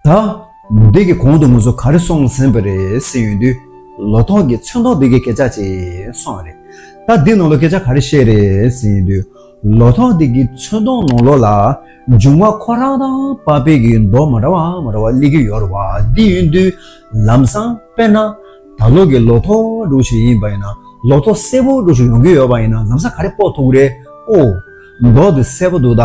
ད་ལོ་དུས་ཀྱི་གོང་དུ་ངོས་ཟོག་ག་རེ་སོང་ཟིན་པ་རེད་ཟེར་ཡོང་དུས། ལོ་ཐོག་གི་ཚོན་མདོག་འདི་གའི་སྐད་ཆ་ཅིག་གསུངས་བ་རེད། ད་འདི་ནང་ལོ་སྐད་ཆ་ག་རེ་བཤད་རེད་ཟེར་ཡོང་དུས། ལོ་ཐོག་འདི་གའི་ཚོན་མདོག་ནང་ལོ་ལ་འབྱུང་བ་ཁོ་རང་དང་པ་པེ་གི་མདོག་མ་འདྲ་བ་མ་འདྲ་བ་གླེང་གི་ཡོད་རེད་བ་འདི་ཡོང་དུས། ལམ་སང་དཔེར་ན། ད་ལོ་གི་ལོ་ཐོག་སྒྲུག་བྱེད་ཡིན་པ་ཡིན་ན་ལོ་ཐོག་གསལ་པོ་སྒྲུག་བྱེད་ཡོང་གི་ཡོད་པ་ཡིན་ན་ལམ་སང་ག་རེ་དཔོག་ཐུག་རེད་ཨོ། མདོག་འདི་གསལ་པོ་འདུག་ད།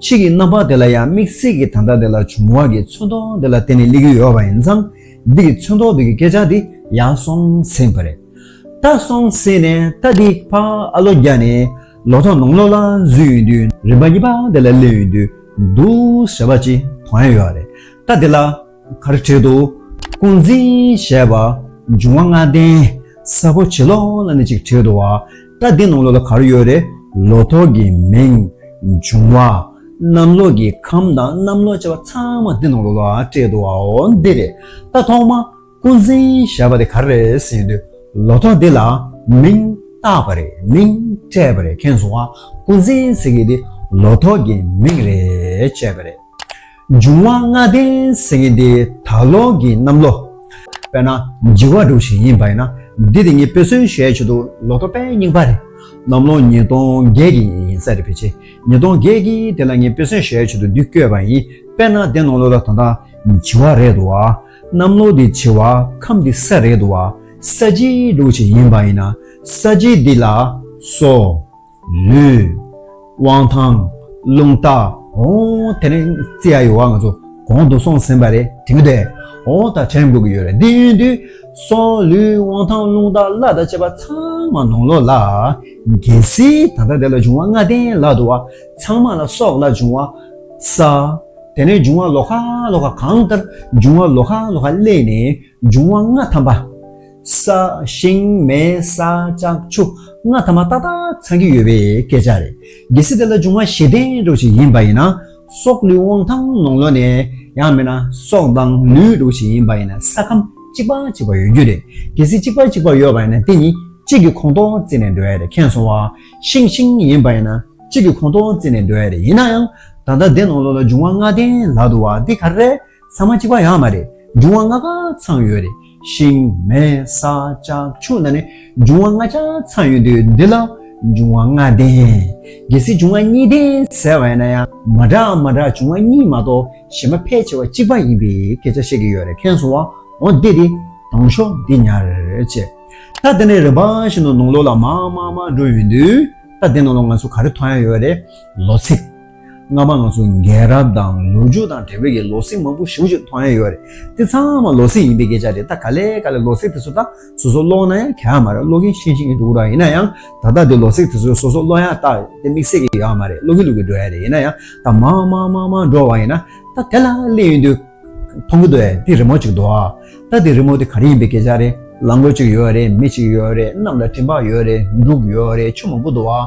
ཕྱིས་ཀྱི་རྣམ་པ་དེ་ལ་ཡང་དམིགས་བསལ་གྱི་ད་ལྟ་དེ་ལ་བྱུང་བ་གྱི་མཚོན་རྟོག་འདི་ལ་བརྟེན་ནས་གླེང་རྒྱུ་ཡོད་པ་ཡིན་ཙང། འདི་གི་མཚོན་རྟོག་འདི་གི་སྐད་ཆ་འདི་ཡང་སོང་ཟིན་པ་རེད། ད་སོང་ཟིན་ནས་ད་འདི་ཕ་ཨ་ལོ་རྒྱ་ནས་ལོ་ཐོག་ནང་ལོགས་ལ་བཟོས་ཡོང་དུས་རིམ་པ་གཉིས་པ་དེ་ལ་གླེང་ཡོང་དུས་འདུག་ཟེར་བ་ཅིག་མཐོང་ཡ་ཡོད་རེད། ད་འདི་ལ་མཁར་ཁྲོད་དུ་སྐུ་འཛིན་བྱས་པ། འབྱུང་བ་ལྔ་ལྡན་ས་ཕོ་བྱི་ལོ་ལ་ནི་གཅིག་ཁྲོད་དུ་བ། རྟ་སྡིངས་ནང་ལོགས་ལ་གར་ཡོད་རེ་ལོ་ཐོག་གི་མིང། འབྱུང་བ་གནམ་ལོགས་ཀྱི་ཁམས་དང་གནམ་ལོགས་བྱ་བ་ཚང་མ་འདི་ནང་ལོགས་ལ་སྤྲད་འདུག་བའོ། འདི་རེ་རྟ་ཐོག་མ་སྐུ་འཛིན་བྱས་པ་དེ་གར་རེ་ཟིན་དུས་ལོ་ཐོག་འདི་ལ་མིང་བཏགས་པ་རེ་མིང་སྤྲད་པ་རེ་ཁེངས་སོང་བ་སྐུ་འཛིན་ཟེར་གི་འདི་ལོ་ཐོག་གི་མིང་རེ་བྱས་པ་རེད། འབྱུང་བ་ལྔ་ལྡན་སེམས་ཉིད་འདི་ད་ལོག་གི་གནམ་ལོ། དཔེར་ན་བགྱི་བ་སྒྲུབ་བྱེད་ཡིན་པ་ཡིན་ན་འདི་དེ་ཉིད་དཔེ་སྲོལ་གཞལ་བྱེད་དུ་ལོ་ཐོ་པའི་རྙིང་པ་རེད། གནམ་ལོ་ཉིས་སྟོང་བརྒྱད་ཀྱི་ཡིན་ས་རེད་ཕལ་ཆེར་ཉིས་སྟོང་བརྒྱད་ཀྱི་དེ་ལ་ངས་དཔེ་སྲོལ་གཞལ་བྱེད་དུ་འདི་བཀོད་པ་ཡིན་དཔེར་ན་དེ་ནང་ལོ་ལ་ད་ལྟ་བགྱི་བ་རེད་འདུག་བ། གནམ་ལོ་འདི་བྱེ་བ་ཁམས་འདི་ས་རེད་འདུག་བ། ས་བྱི་སྒྲུབ་བྱེད་ཡིན་པ་ཡིན་ན་ས་བྱི་འདི་ལ་སོ། ལུས། དབང་ཐང། རླུང་རྟ། ཨོ། དེ་རིང་རྩིས་ཡག་ཡོད་བ་ང་ཚོ་གོང་དུ་སོང་ཟིན་པ་རེད་དྲན་གི་འདུག་ཨོ་ད་དྲན་དགོས་ཀྱི་ཡོད་རེད་འདི་ཡོང་དུས་སྲོག་ལུས་དབང་ཐང་རླུང་རྟ་བླ་དང་བཅས་པ་ཚང་མ་ནང་ལོག་ལ། གལ་སྲིད་ད་ལྟ་དེ་ལ་འབྱུང་བ་ལྔ་ལྡན་ལག་ཏུ་བ་ཚང་མ་ལ་སྲོག་ལ་འབྱུང་བ། ས། དེ་ནས་འབྱུང་བ་ལོ་ཁ་ལོ་ཁ་གང་ལྟར་འབྱུང་བ་ལོ་ཁ་ལོ་ཁ་བསླད་ནས་འབྱུང་བ་ལྔ་ཐམ་པ། ས་ཞིང་མེ་ས་ལྕགས་ཆུ་ལྔ་ཐ་མ་ཏག་ཏག་ཚང་གི་ཡོད་པའི་སྐད་ཆ་རེད། གལ་སྲིད་དེ་ལ་འབྱུང་བ་གཞི་བརྟན་འགྲོ་ཞིག་ཡིན་པ་ཡིན་ན། སྲོག་ལུས་དབང་ཐང་ནང་ལོག་ནས། ཡང་མིན་ན་སྲོག་དང་ལུས་འགྲོ་ཞིག་ཡིན་པ་ཡིན་ན་ས་ཁམས་གཅིག་པ་གཅིག་པ་ཡོད་རྒྱུ་རེད། གལ་སྲིད་གཅིག་པ་གཅིག་པ་ཡོད་པ་ཡིན་ན་དེ་གཉིས་གཅིག་གི་ཁོངས་གཏོགས་བརྩིས་ནས་འགྲོ་ཡ་རེད་མཁྱེན་སོང་བ། ཤིང་ཤིང་ཡིན་པ་ཡིན་ན་གཅིག་གི་ཁོངས་གཏོགས་བརྩིས་ནས་འགྲོ་ཡ་རེད་ཡིན་ན་ཡང། ད་ལྟ་འདི་ནང་ལོག་ལ་འབྱུང་བ་ལྔ་ལྡན་ལག་ཏུ་བ་འདི་ག་རེ་རེད། ཚང་མ་གཅིག་པ་ཡང་མ་རེད་འབྱུང་བ་ལྔ་ག་ཚང་ཡོད་རེད་ཤིང་མེ་ས་ལྕགས་ཆུ་ནང་ནས་འབྱུང་བ་ལྔ་ཆ་ཚང་ཡོད་དུས་འདི་ལ་འབྱུང་བ་ལྔ་ལྡན། གལ་སྲིད་འབྱུང་བ་གཉིས་ལྡན་ཟེར་བ་ཡིན་ན་ཡང་མ་འདྲ་མ་འདྲ་འབྱུང་བ་གཉིས་མ་གཏོགས་གཞན་མ་ཕལ་ཆེ་བ་གཅིག་པ་ཡིན་པའི་སྐད་ཆ་བཤད་ཀྱི་ཡོད་རེད་མཁན་སོང་བ་འོ་བདེ་དེ་དང་ཤོག་འདི་ཉར་བྱེད། ད་དེ་ནས་རིམ་པ་བཞིན་དུ་ནང་ལོགས་ལ་མ་མ་མ་འགྲོ་ཡོད་དུས་ད་དེ་ནང་ལོགས་ང་ཚོ་ག་རེ་མཐོང་ཡ་ཡོད་རེད་ལོ་ཚིགས། སྔ་མ་ང་ཚོ་རྒན་རབས་དང་ལོ་རྒྱུས་དང་དྲ་བའི་ཀྱི་ལོ་ཚིགས་མང་པོ་ཞིབ་ཞིབ་མཐོང་ཡ་ཡོད་རེད་དེ་ཚང་མ་ལོ་ཚིགས་ཡིན་པའི་སྐད་ཆ་རེད་ད་ག་ལེ་ག་ལེ་ལོ་ཚིགས་དེ་ཚོ་ད་སོ་སོ་ཀློག་ན་ཡང་ག་ཡ་མ་རེད་ཀློག་གིན་ཤེས་ཤིང་གིན་འདུག་ར་ཡིན་ན་ཡང་ད་ལྟ་དེ་ལོ་ཚིགས་དེ་ཚོ་སོ་སོ་ཀློག་ཡ་ད་དེ་དམིགས་བསལ་གྱི་ཡོད་ཨ་མ་རེད་ཀློག་གིན་འདུག་གིན་འགྲོ་ཡ་རེད་ཡིན་ན་ཡང་ད་མང་མང་མང་མང་འགྲོ་བ་ཡིན་ན་ད་དེ་ལ་གླེང་ཡོད་དུས་མཐོང་གིན་འདུག་ཨ་དེ་རི་མོ་ཅིག་འདུག་ཨ་ད་དེ་རི་མོ་དེ་ག་རེ་ཡིན་པའི་སྐད་ཆ་རེད་ལ་མགོ་ཅིག་ཡོད་རེད་མི་ཅིག་ཡོད་རེད་གནམ་ལ་སྤྲིན་པ་ཡོད་རེད་འབྲུག་ཡོད་རེད་ཆུ་མང་པོ་འདུག་ཨ།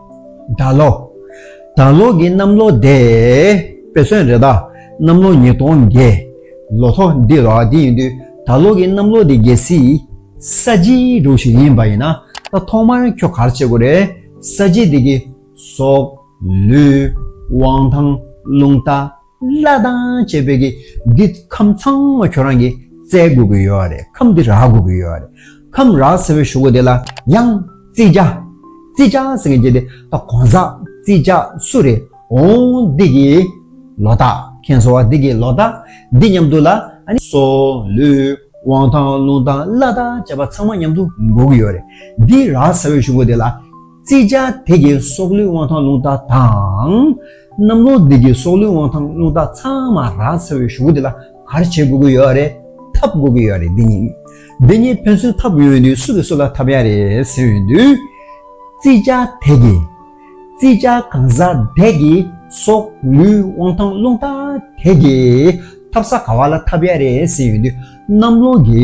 དགྲ་ལོ། དགྲ་ལོ་གི་གནམ་ལོ་བདེ། དཔེ་སོན་རེ་དྭགས་གནམ་ལོ་ཉིས་སྟོང་བརྒྱད། ལོ་ཐོ་འདི་རོ་འདི་ཡིན་དུས་དགྲ་ལོ་གི་གནམ་ལོ་འདི་རྒྱལ་སྲིད། ས་བྱིའི་འབྲུག་ཞིག་ཡིན་པ་ཡིན་ན་ད་ཐོག་མར་ཁྱོ་གར་བྱེད་དགོས་རེད། ས་བྱི་འདི་གི། སོག། ལུས། དབང་ཐང། རླུང་རྟ། བླ་བྲང་བཅས་བོད་ཀྱི་འདི་ཁམས་ཚང་མ་ཁྱོད་རང་གིས་བཙལ་དགོས་ཀྱི་ཡོད་རེད་ཁམས་འདི་རག་དགོས་ཀྱི་ཡོད་རེད་ཁམས་རག་ཟེར་བའི་ཞུ་སྒོ་དེ་ལ་ཡང་རྩིས་རྒྱ། རྩིས་རྒྱ་ཟེར་མཁན་གྱི་དེ་ད་གོང་ས་རྩིས་རྒྱ་སུ་རེད་འོང་འདི་གི་ལོ་རྟགས་མཁན་ཟེར་བ་འདི་གི་ལོ་རྟགས་འདི་མཉམ་དུ་ལ་ཨ་སོ་ལུས་དབང་ཐང་ལུང་ཐང་བླ་རྟགས་བཅས་པ་ཚང་མ་མཉམ་དུ་འགོ་གི་ཡོད་རེད་འདི་རག་ཟེར་བའི་ཞུ་སྒོ་དེ་ལ། རྩེ་ལྕགས་དེ་གའི་སྲོག་ལུས་དབང་ཐང་རླུང་རྟ་དང། གནམ་ལོ་འདི་གའི་སྲོག་ལུས་དབང་ཐང་རླུང་རྟ་ཚང་མ་རག་ཚ་བའི་ཞུགས་འདི་ལ་གར་བྱེད་དགོས་ཀྱི་ཡོད་རེད། འཐབ་དགོས་ཀྱི་ཡོད་རེད་འདི་གཉིས། འདི་གཉིས་ཕན་ཚུན་འཐབ་ཡོང་དུས་སུ་གི་སུ་ལ་འཐབ་ཡ་རེད་ཟེར་ཡོང་དུས། རྩེ་ལྕགས་དེ་གའི། རྩེ་ལྕགས་གང་ཟག་དེ་གའི་སྲོག་ལུས་དབང་ཐང་རླུང་རྟ་དེ་གའི། འཐབ་ས་ག་བ་ལ་འཐབ་ཡ་རེད་ཟེར་ཡོང་དུས་གནམ་ལོ་འདི།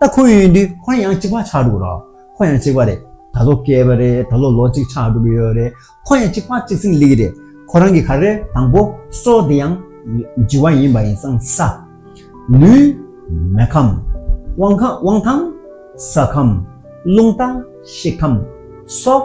ད་ཁོ་ཡོད་དུས་ཁོ་རང་ཡང་གཅིག་པ་ཆགས་འགྲོ་གི་རེད། ཁོ་ཡང་གཅིག་པ་རེད། ད་ལོ་སྐྱེས་པ་རེད། ད་ལོ་ལོ་གཅིག་ཆགས་འགྲོ་གི་ཡོད་རེད། ཁོ་ཡང་གཅིག་པ་གཅིག་ཚིག་ལེགས་རེད། ཁོ་རང་གི་ག་རེ་དང་པོ་སོ་དེ་ཡང་ལྗི་བ་ཡིན་པ་ཡིན་སང་ས། ལུས། མེ་ཁམས། དབང་ཁམས། ས་ཁམས། རླུང་རྟ། ཤི་ཁམས། སྲོག།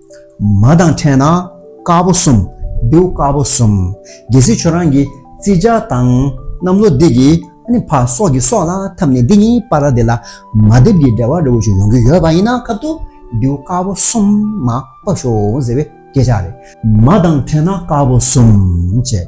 མ་དང་ཕྲད་ན་དཀར་པོ་གསུམ། བེའུ་དཀར་པོ་གསུམ། རྒྱལ་སྲིད་ཆོས་རང་གི་རྩིས་ཆ་དང། གནམ་ལོ་སྡེ་དགེ་ཨ་བྷ་སོགས་ཀྱི་སྲོག་ལ་འཐབ་ནས་འདི་ཉིད་པཱ་ར་དེ་ལ་མ་བསྡེབས་ཀྱི་འབྲེལ་བ་རི་བོ་ཆུ་ཡོང་གི་ཡོད་པ་ཡིན་ན་ཁབ་ཏུ་བེའུ་དཀར་པོ་གསུམ་མ་དཔག་ཤོག་ཟེར་བའི་སྐད་ཆ་རེད། མ་དང་ཕྲད་ན་དཀར་པོ་གསུམ། ཅེས།